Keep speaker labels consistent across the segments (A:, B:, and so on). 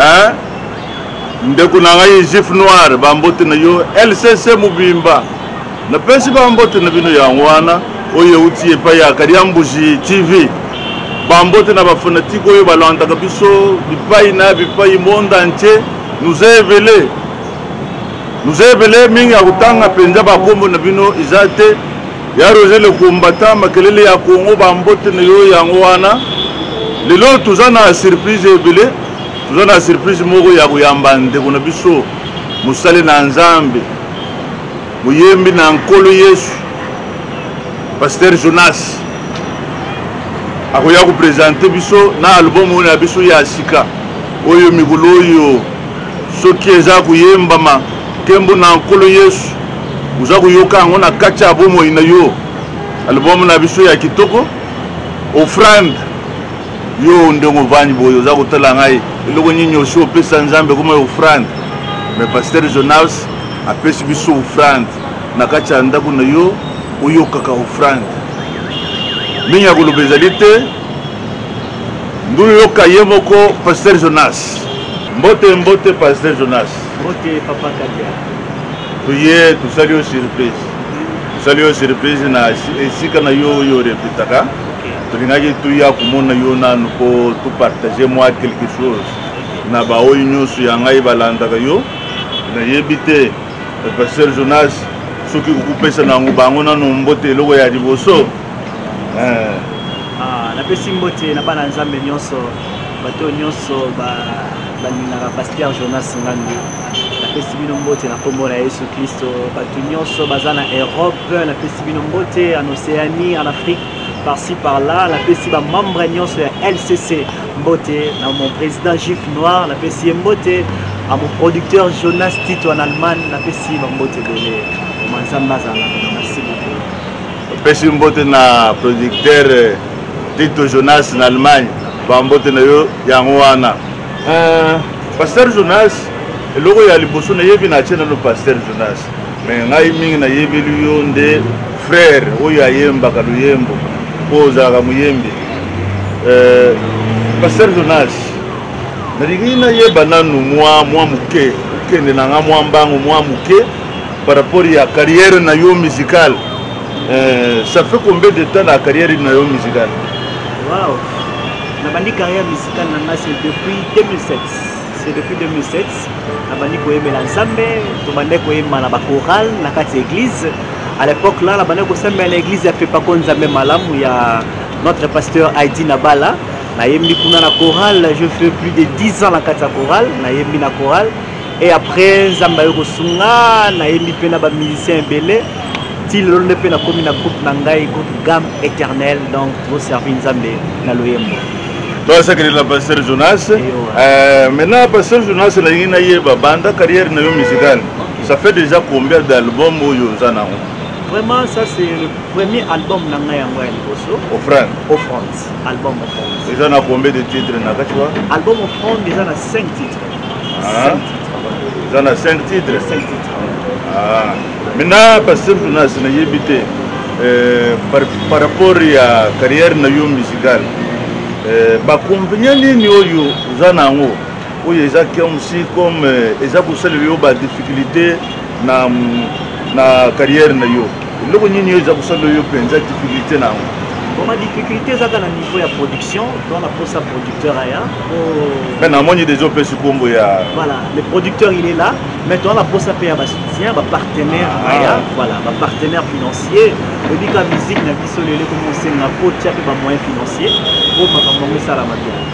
A: eh? ndeko na ngai jif noir bambote na yo lcc mobimba napesi bambote na bino yango wana oyo euti epai ya kaliambuji tv bambote na bafanatike oyo balandaka biso bipai na bipai monde entier nous evele nous evele mingi ya kotanga mpenza bakombo na bino eza te Ya Roger le combattant makelele ya Congo ba mbote na yo yango wana lelo toza na surprise ebele toza na surprise moko ya koyamba ndeko na biso mosali na Nzambe moyembi na nkolo Yesu Pasteur Jonas akoya kopresente biso na album oyo na biso ya sika oyo mikolo oyo soki eza koyembama nkembo na nkolo Yesu oza koyoka yango na kati ya bomoi na yo album na biso ya kitoko offrande yo ndenge ovandi boye oza kotala ngai eloko nini osi opesa nzambe ekoma ya offrande me paster jonas apesi biso offrande na kati ya ndako na yo oyokaka offrande mingi ya koloba ezali te ndulu yoka ye moko paster jonas mbote mbote paster jonas mbote papa
B: kadia toye
A: tosali yo surprise tosali yo surprise na esika na yo oyo orepetaka tolingaki toya komona yo nanu mpo topartage mwa quelque chose na baoyo nyonso ya ngai balandaka yo nayebi te pasteur jonas soki kokopesa na yango bango nano mbote eloko ya liboso eh. ah,
B: napesi mbote na bana nzambe nyonso bato nyonso balingaka pasteur jonas ngandu napesi bino mbote na nkombo na yesu klisto bato nyonso baza na europe napesi bino mbote en océanie en afrique par-ci par-là napesi bamembre nyonso ya lcc mbote na mon président juif noir napesi ye mbote a mon producteur jonas tito en allemagne napesi bambote ebele oma nzambe azala merci beaucoup napesi mbote na
A: producteur tito jonas na allemagne bambote na yo yango wana Euh, pasteur Jonas, eloko ya liboso nayebi na atie nano pasteur Jonas, me ngai mingi nayebeli yo nde frère oyo ayembaka loyembo mpo ozalaka moyembi. Euh, pasteur Jonas, nalingi nayeba nanu mwa mwa moke okende na nga mwa mbango mwa moke par rapport ya carrière na yo musicale Euh, ça fait combien de temps la carrière na yo musicale wow. nabandi
B: carrière Tana na ngai c'est depuis 2007. C'est depuis 2007 nabandi koyembela Nzambe, tobandaki koyemba na ba chorale na kati ya église. À l'époque là nabandaki kosambela na église ya Fepako Nzambe malamu ya notre pasteur Heidi Nabala. Nayembi kuna na chorale, je fais plus de 10 ans na kati ya chorale, nayembi na chorale. Et après Nzambe ayo kosunga, nayembi mpe na ba musiciens ebele. Ti lelo nde mpe nakomi na groupe na ngai, groupe Gamme Éternelle, donc toservi Nzambe na loyembo. toasakeli
A: na pasteur jonas euh, maintenant pasteur jonas nalingi nayeba banda carrière na yo musicale ça fait déjà combien d'album oyo oza nango vraiment ça
B: c'est le premier album na ngai yango ya liboso offrande offrande album offrande eza na combien de titre
A: na kati wa album offrande
B: eza na 5 titre eza na 5
A: titre maintenant basemple nasi nayebi te eh, par rapport ya carrière na yo musicale eh, baconvenient nini oyo oza na yango oyo eza komsi comme eh, eza kosalela yo badifficulté na, na carrière na yo eloko nini oyo eza kosala yo mpenza difficulté na yango boma
B: difficulté ezaka na niveau ya production to na posa producteur aya mais namoni deja opesi nkombo ya voilà le producteur il est là mais toza na posa mpe ya basoutien bapartenaire ah. aya voilà bapartenaire financier oyebika musique na biso lelo ekomi osenga kotia mpe bamoyen financier mpo makambo yango esalama bien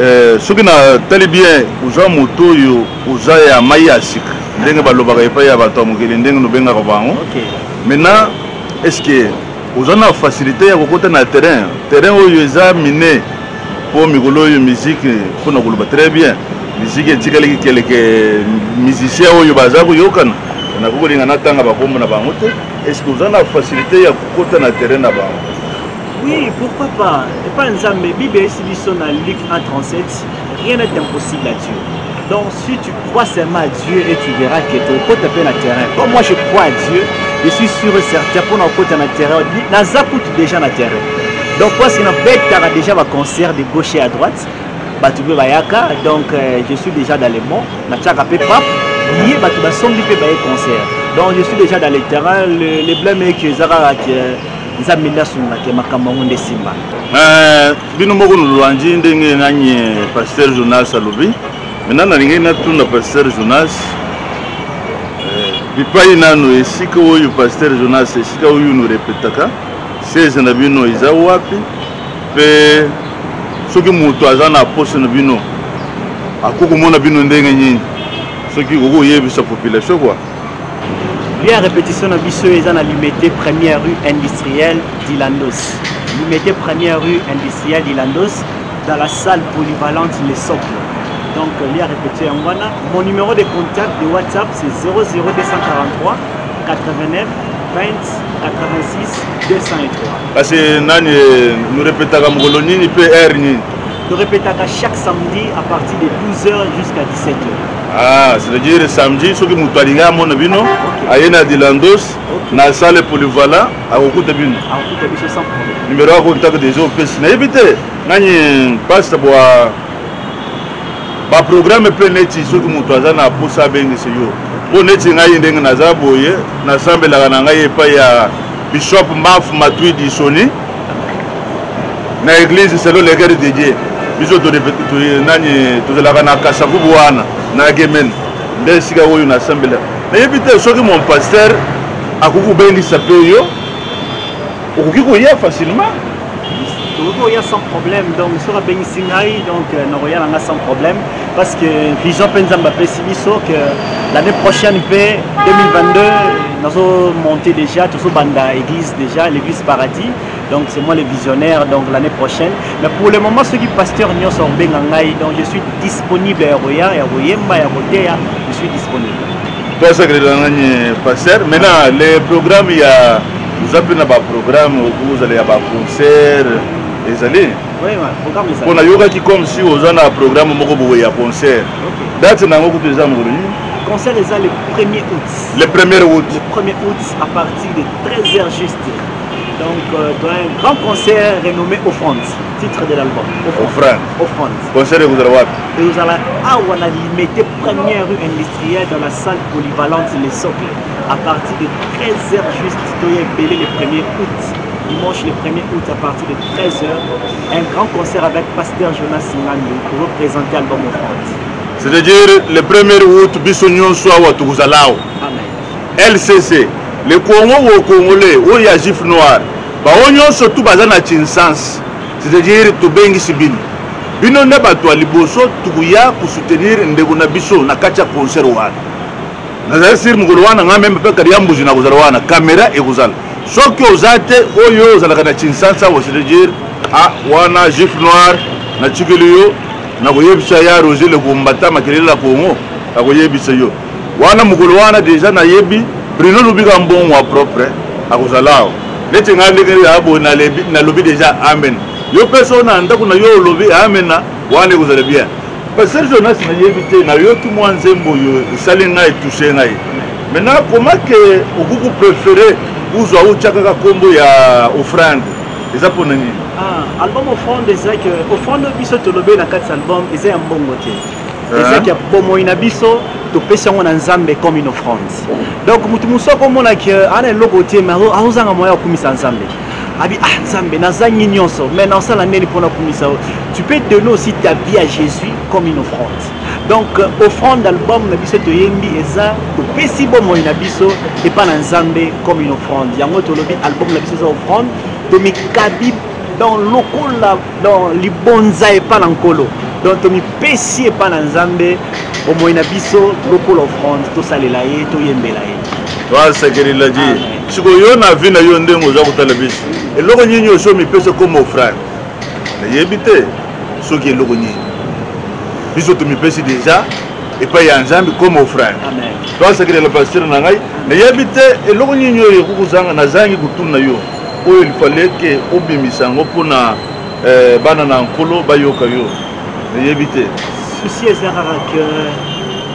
A: Eh, soki na tali bien oza moto oyo oza ya mai ya sika ndenge balobaka epai ya bato ya mokili ndenge nobengaka bango maintenant est ce que oza na facilité ya kokota na terrain terrain oyo eza mine mpo mikolo oyo miziki mpo na koloba très bien miziki etikaliki keleke musicien oyo baza koyokana nakoki kolinga natanga bakombo na bango te est ce que oza na facilité ya kokota na terrain na bango Oui,
B: pourquoi pas Epa Nzambe, Bible est biso na Luc 1.37, rien n'est impossible à Dieu. Donc si tu crois seulement à Dieu et tu verras que tu peux taper na terrain. Comme moi je crois à Dieu, je suis sûr et certain pour na kota na terrain, na zakut déjà na terrain. Donc parce que na betaka déjà ba concert de gauche et à droite, bato mpe bayaka donc euh, je suis déjà dans le mont natiaka mpe pape ye bato basombi mpe baye concert donc je suis déjà dans le terrain le, le blème eke eza kaka nzambe nde asunga te makambo yango nde simba eh, bino
A: moko nolwanji ndenge nani eh, pasteur jonas alobi maintenant nalingaki natuna pasteur jonas eh, bipai nano esika oyo pasteur jonas esika oyo norepetaka sese na bino eza wapi mpe soki moto aza na poste na bino akoki komona bino ndenge nini soki okoki koyebisa population kua Lieu
B: ya repetition na biso eza na Limete première rue industrielle d'Ilandos. Limete première rue industrielle d'Ilandos dans la salle polyvalente Le Socle. Donc lieu ya repetition yango wana. Mon numéro de contact de WhatsApp c'est 00243 89 20 86 203. Kasi
A: nani nous répétaka mokolo nini pe heure nini? Nous répétaka
B: chaque samedi à partir de 12h jusqu'à 17h. Ah,
A: c'est-à-dire samedi soki moto alingi amona bino aye na dilandos na sale polivala akokuta bino
B: numero ya contact deja
A: opesi nayebi te nani paste bwa baprogramme mpe neti soki moto aza na mposa abengisi yo mpo neti ngai ndenge naza boye nasambelaka na ngai epai ya bishop maf matwi disoni na église selon le cœur de Dieu biso nani tozalaka na kasavubu wana na gemene nde esika oyo nasambela nayebi te soki mon pasteur akoki kobengisa mpe yo okoki koya facilement tokoki
B: koya sans problème donc soki abengisi ngai donc euh, nakoya na ngai sans problème parce que vision mpe nzambe apesi biso que l'année prochaine mpe 2022 nazo monte déjà tozobanda église déjà l'église paradis donc c'est moi le visionnaire donc l'année prochaine mais pour le moment soki pasteur nyonso akobenga ngai donc je suis disponible ya koya ya koyemba ya koteya je suis disponible toasakelela
A: ngani pasteur maintenant le programme ya oza mpe na baprogramme okozala ya baconcert ezali
B: mpo nayokaki comme si
A: oza na programme moko boye ya concert date na yango kutu eza mokolo nini concert eza le
B: 1er août le 1er août
A: le 1er août à
B: partir de 13 heures juste donc euh, dans un grand concert renommé offrande titre de l'album offrande offrande concert ekozala
A: wapi ekozala
B: awa na limete première rue industrielle dans la salle polyvalente le socle à partir de 13 heures juste toya ebele le 1er août dimanche le 1er août
A: à partir de 13h, un grand concert avec Pasteur Jonas Singando pour représenter Album of France.
B: C'est-à-dire
A: le 1er août, biso nyonso awa tokozalao. Amen. LCC, le Congo au Congolais, au Yajif Noir, bao nyonso tout baza na Chinsans, c'est-à-dire tobengisi bino. Bino nde bato ya liboso tokoya kosoutenir ndeko na biso na kati ya concert wana. Nazali sir mokolo wana ngai meme mpe kadi ya mbuzi nakozala wana, kamera ekozala. soki oza te oyo ozalaka na kinsansa wasedejir a ah, wana juif noir natikeli yo nakoyebisa ya roger lekombata makelele na congo akoyebisa yo wana mokolo wana deja nayebi bruno lubika mbongo ya propre akozala awa neti ngai ndenge ya boye nalobi deja amen yo mpe so na ndako na yo olobi amena wana ekozala bien pasteur jonas nayebi te nayoki mwa nzembo oyo esali ngai etouche ngai maintenant akoma ke okoki koprefere uzwa otya kaka nkombo ya offrande eza mpo na nini ah, album
B: offrande eza ke offrande oyo biso tolobeli na kati ya album eza ya mbongo te ezaki ya bomoi na biso topesi yango na nzambe comme une offrande donc moto mosusu akomona ke ana eloko te mais azozanga moyen ya kokumisa nzambe abi ah nzambe nazangi nyonso mais nasala ndeni mpona kumisa yo tu peux donner aussi ta vie à jésus comme une offrande donc euh, offrande album na biso toyembi eza topesi bomoi na biso epai na nzambe comme une offrande yango tolobi album na biso eza offrande tomikabi dans lokola donc libonza epa na nkolo donc tomipesi epa na nzambe bomoi na biso lokola offrande tosalela ye toyembela ye wasekelela
A: ji sikoyo yo na vi na yo ndenge oza kotala biso eloko nini osi omipesi ekoma offrande nayebi te soki eloko nini biso tomipesi deja epai ya nzambe koma offrande toasekelela pastere na ngai nayebi te eloko nini oyo ekokozanga nazangi kotuna yo oyo il fallait ke obimisa yango mpo na eh, bana na nkolo bayoka yo eyebi te souci eza kaka
B: ke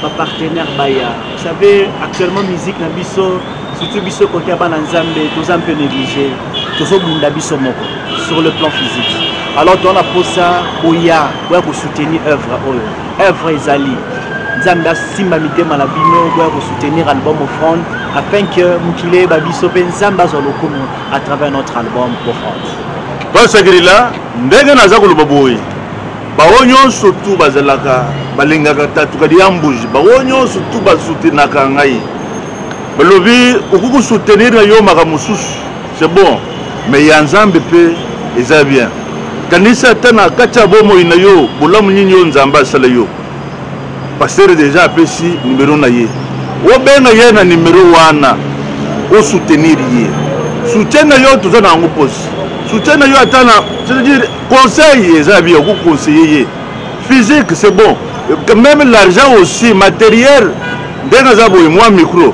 B: bapartenaire baya vous savez actuellement musique na biso surtout biso kote ya bana nzambe toza mpe néglige tozobunda biso moko sur le plan physique alors toza na mposa boya boya kosoutenir œuvre oyo Œuvre ezali. Nzambe asimba mitema na bino boya ko soutenir album Offrande afin que mokili eyeba biso mpe Nzambe azwa lokumu à travers notre album Offrande. Pasakirila
A: ndenge naza koloba boye baoyo nyonso tu bazalaka balingaka tatuka diambuji baoyo nyonso tu basutenaka ngai balobi okoki kosoutenir na yo makambo mosusu c'est bon Mais ya Nzambe pe eza bien. Kanisa ata na kati ya bomoi na yo bolamu nini oyo Nzambe asala yo. Pasteur dejà apesi numero na ye. Obenga ye na numero wana o soutenir ye. Soutien na yo toza na yango posi. Soutien na yo ata na c'est-à-dire conseil eza bien ko conseiller ye. Physique c'est bon. Même l'argent aussi matériel ndenge aza boye mwa micro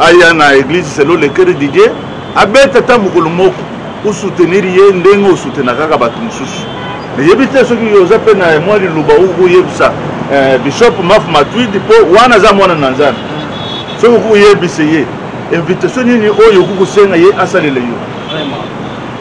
A: aya na eglise selo le cœur de Dieu abeta ata mokolo moko osoutenir ye ndenge osoutenaka kaka bato mosusu nayebi te soki oza mpe na mwa liloba okoyebisa eh, bishop maf matwid mpo wana aza mwana na nzambe soki okoki koyebisa ye invitation nini oyo okoki kosenga ye asalela yo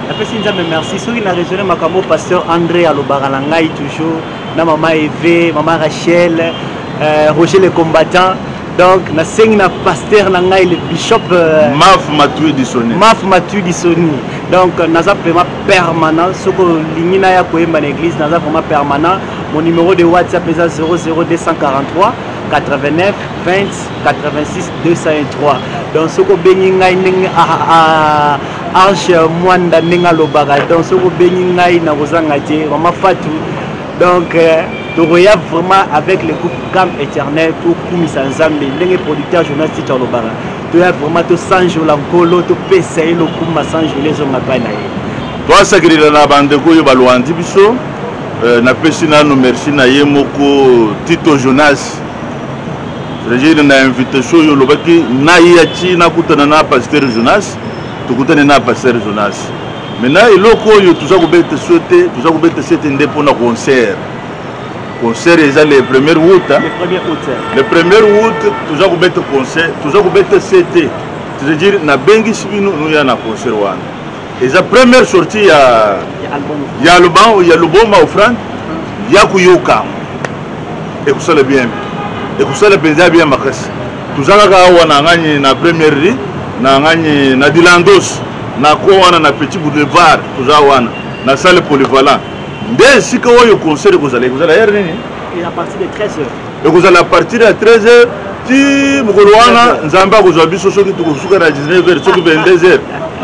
B: napesi nzambe merci soki na raisonne makambo pasteur andré alobaka na ngai toujours na mama eve mama rachel euh, roger le combattant Donc na sengi na pasteur na ngai le bishop euh, Maf Matui
A: Disoni. Maf Matui Disoni. Donc naza vraiment
B: permanent soko lingi na ya koyemba na église naza vraiment permanent. Mon numéro de WhatsApp eza 00243 89 20 86 203. Donc soko bengi ngai ndenge a ah, a ah, ah, Ange Mwanda ndenge alobaka. Donc soko bengi ngai na kozanga te. Mama Fatou donc euh, tokoya vraiment avec le groupe cam éternel tokumisa nzambe ndenge producteur jonas ticha olobaka toya vraiment tosanjola nkolo topesa ye lokumba sanjola ezonga epai na ye toasakelela
A: na bandeko oyo balwandi biso euh, napesi nanu merci na ye moko tito jonas regine na invitation oyo olobaki naye ya ti nakutana na pasteur jonas tokutani na pasteur jonas mena eloko oyo toza kobeta so te toza kobeta sete nde mpona concert concert eza le premier out le premier out toza kobeta concert toza kobeta sete c'est-à-dire nabengisi bino noya na concert wana eza première sortie ya ya lubango ya luboma ofrande ya koyokama ekosala bien ekosala mpenza bien makasi Toza kaka awa na ngani na première rue na ngani na Dilandos na ko wana na Petit Boulevard toza wana na salle polyvalent nde esika oyo concert ekozala ekozala heure nini
B: ekozala à partir
A: ya 13 heures ti mokolo wana nzambe akozwa biso soki tokosuka na 19 heures soki 22 heures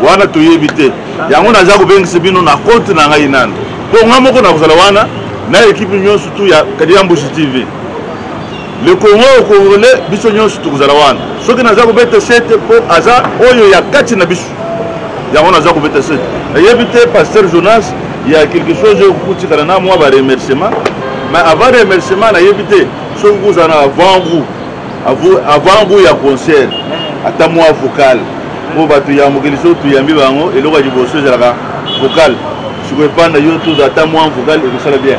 A: wana toyebi te yango naza kobengisa bino na compte na ngai nano mpo ngai moko nakozala wana na ekipe nyonso tu ya kadiambusi tv Le Congo au Congolais biso nyonso tokozala wana soki naza kobeta sete mpo aza oyo ya kati na biso yango naza kobeta sete nayebi te pasteur Jonas ya quelque chose oyo kokutikana na mwa ba remerciement mais avant remerciement nayebi te soki kozala na avant goût avant goût ya concert ata mwa vocal mpo bato ya mokili soki toyambi bango eloko ya liboso ezalaka vocal sikoyo epai na yo tozala ata mwa vocal ekosala bien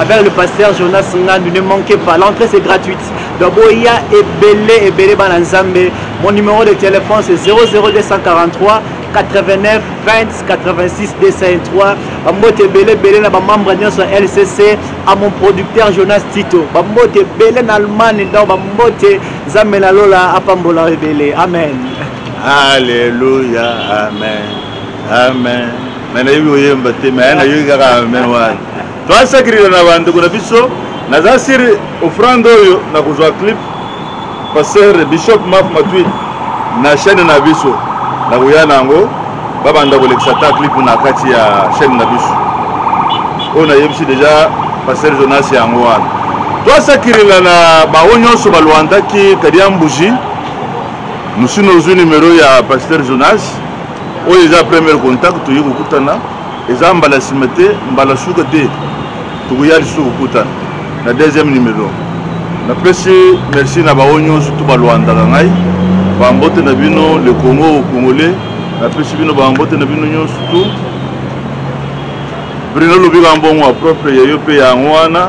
B: avec le pasteur Jonas Ngandu ne manquez pas l'entrée c'est gratuite donc boya ebele ebele bana nzambe mon numéro de téléphone c'est 00243 89 20 86 203 bambote ebele ebele na bamembre nyonso ya lcc a mon producteur jonas tito bambote ebele na allemagne donc bambote nzambe na lola apambola ebele amen alleluya
A: amen amen me nayebi oyemba te me nayoki kaka amen wana Toa sacrifier na ba ndeko na biso. Naza sur offrande oyo na kozwa clip pasteur bishop maf matwi na chaîne na biso na koya na yango babanda kolekisa ta clip na kati ya chaîne na biso oyo nayebisi deja pasteur jonas yango wana twasakirila na bango nyonso balwandaki kadia mbuji mosino ozwi numero ya pasteur jonas oyo eza première contact toye kokutana eza mbala sima te mbala suka te tokoya lisusu kokutana na deuxième numero napesi merci na bango nyonso to balwandaka ngai bambote na bino le congo congolais napesi bino bambote na bino nyonso tu brino lobi kambongo ya propre ya yo mpe yango wana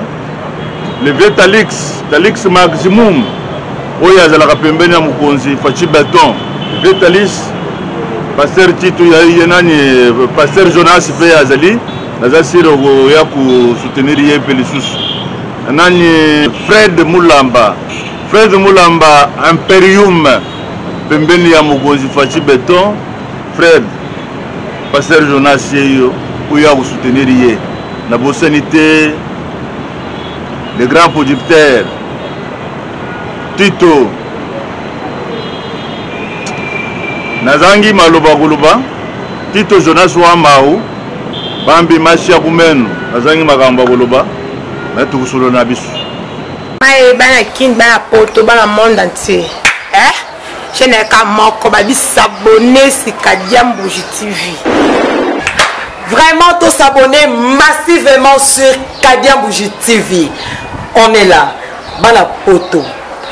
A: Le vieux Talix, Talix Maximum, oyo azalaka pembeni ya mokonzi Fachi Beton, le vieux Talix, Pasteur Tito ya ye nani, euh, Pasteur Jonas pe azali, naza sire okoya ko soutenir ye pe lisusu. Nani Fred Mulamba, Fred Mulamba Imperium pembeni ya mokonzi Fachi Beton, Fred, Pasteur Jonas Yeyo, oyo a soutenir ye. Na bosani te le grand producteur Tito. Nazangi maloba koloba Tito Jonas wa Mau bambi masi ya kumenu nazangi makambo ya koloba me tokosolona biso
C: bana kin bana poto bana monde entier eh? chaîne ya ka moko ba bisabone sika diambuji tv vraiment to s'abonner massivement sur Kadian Bougie TV on est là bana poto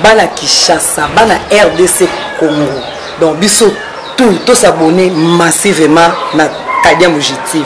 C: bana Kinshasa bana RDC Congo donc biso tout to s'abonner massivement na Kadian Bougie TV